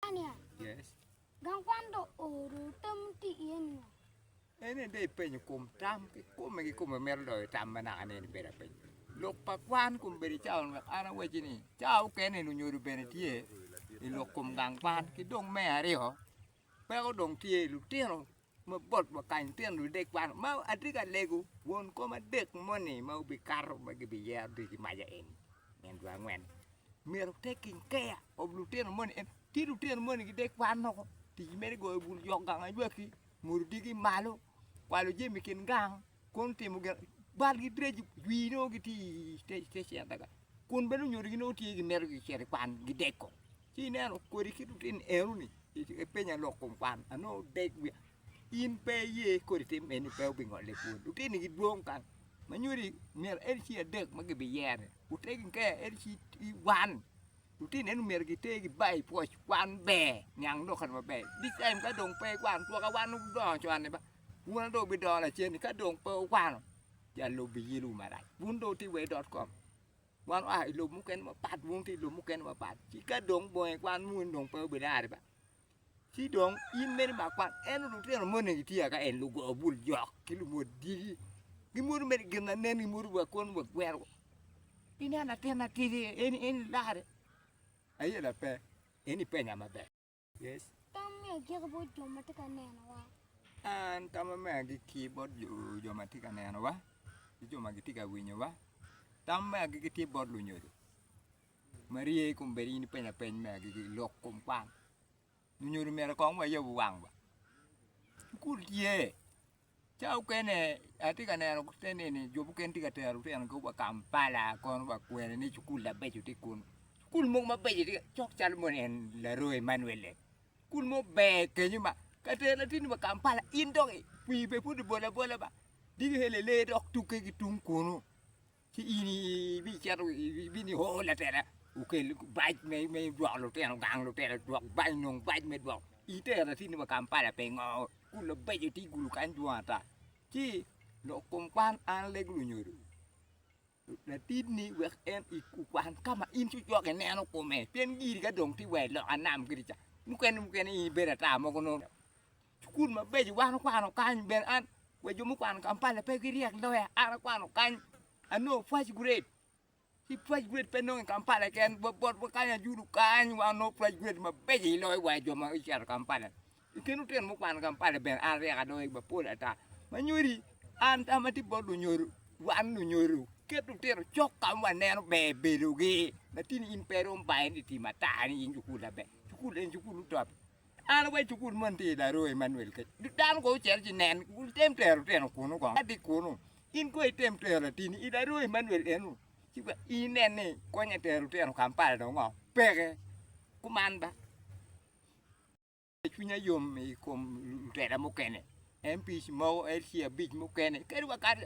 Tanzania. Yes. Gang kwan do oro tam ti iye nio. Ene de ipenyo kom tam ki kome ki kome mero loyo tam ma naka nene bedo apeny. Lok pa kwan kom bedo cawa wek an aweci ni cawa okene ni onyodo bene tye i lok kom gang kwan ki dong me aryo peko dong tye lutino mabot wa kany tyen ludek kwan ma atye ka lego won kom adek moni ma gubikato ma gibiyero dwe ki maja eni nyen dwe angwen myero taking care of lutino moni en tye lutino moni gidek kwan woko tic mere goyo bul, jok gang aywaki, muru digi malo, kwalo jami i kin gang. Kono timo gin balgi direc dwi nongo gitye i station adada kun bene onyodo gi nongo tye gimito gicito i kwan gideko ci ineno kodi ki lutino enoni ipenya lok kom kwan anongo dek wiya in pe iye kodi tim eni pe obingole kwon lutini gidwong kany manyodi myero en ci adek ma gibiyeroni otegi nge en ci wan lutino eni myero giter gibai pwoc kwan ber niang lok kany maber big taim ka dong pe kwan twaka wan ma gudongo coni ba Wun dong wubidoro lacen ni ka dong pe wukwano, jang lobo biyilwu marac. Wun dong wutye wa i dot kom. Wan waa i lobo mukene mapat, wun wutye i lobo mukene mapat. Ci ka dong bongi kwan muno ni dong pe wubidare ba, ci dong in meno imak kwan. Ento lutino moni gitye waka eni, lugo bul jok ki lumot dyegi. Gimwodo mere gin ma nen, gimwodo wa kwon wa gwerowa. Ineno latin matidi eni, eni ilarre? Aye lape, eni ipenya maber. Yes. Tam me agikki bot jo ma tye ka nenowa. An tama me agikki bot jo ma tye ka nenowa ki jo ma gitye ka winyowa. Tam me agikki tye bot lunyodo. Maria ikom bedo in ipenya peny me agikki lok kom kwan. Lunyodo myero kong wayab wangwa. Cukul tye. Ca okene atye ka neno te nini jo mukene tye ka tero lutinogi wa Kampala kono wa kwene ni cukul mabeco tye kunu. Cukul mogo mabeco tye cok calo mono en Laroi Emmanuel-le. Cukul mo ber kenyo ma ka tero latinni wa Kampala in dok i pii bene pud ibolo abola ba diki helele dok tukke ki tung kunu. Ci in ibicito, ibino ioro latela okel bac me dwoko lutino gang, lutela dwok bac, nong bac me dwoko. Itero atini pa Kampala pingo? Kun labeco tye gulu kany dwong ata. Ci lok kom kwan an Lego Lunyodo, latidni wek en okwan ka ma in cocok ineno kome, pien giri ka dong tye wa i loka nam kiri ca, mukene mukene in ibedo ata mogo nongo. Cukul mabeco wan okwano kany bene an wa jo mukwano Kampala pe giryek loya an akwano kany anongo first grade ci first grade pe nongo i Kampala keken wa bot wa kany ajulu kany wa anongo first grade mabeco i loyo wa jo ma ocito Kampala i kin lutino mukwano Kampala bene an aryek aloyo gi mapol ata ma nyodi an tam atye bot lunyodo wan lunyodo ket lutino cok ka ma waneno ber bedogi latin in pe irom bayo ni tim ata ni in cukul laber cukul en cukul luto An awaco i cukul moni tye i Laroo, Emmanuel kec. Dano kono ocito ci nen, wutem tero lutino kunu kong. Adi kunu, in kono item tero latini i Laroo, Emmanuel eno, ci wa inen ni konye tero lutino Kampala dong ngo. Peke. Kuman ba. Cwinya yom i kom lutela mukene, MPs mogo, LC abic mukene, kadi wakato.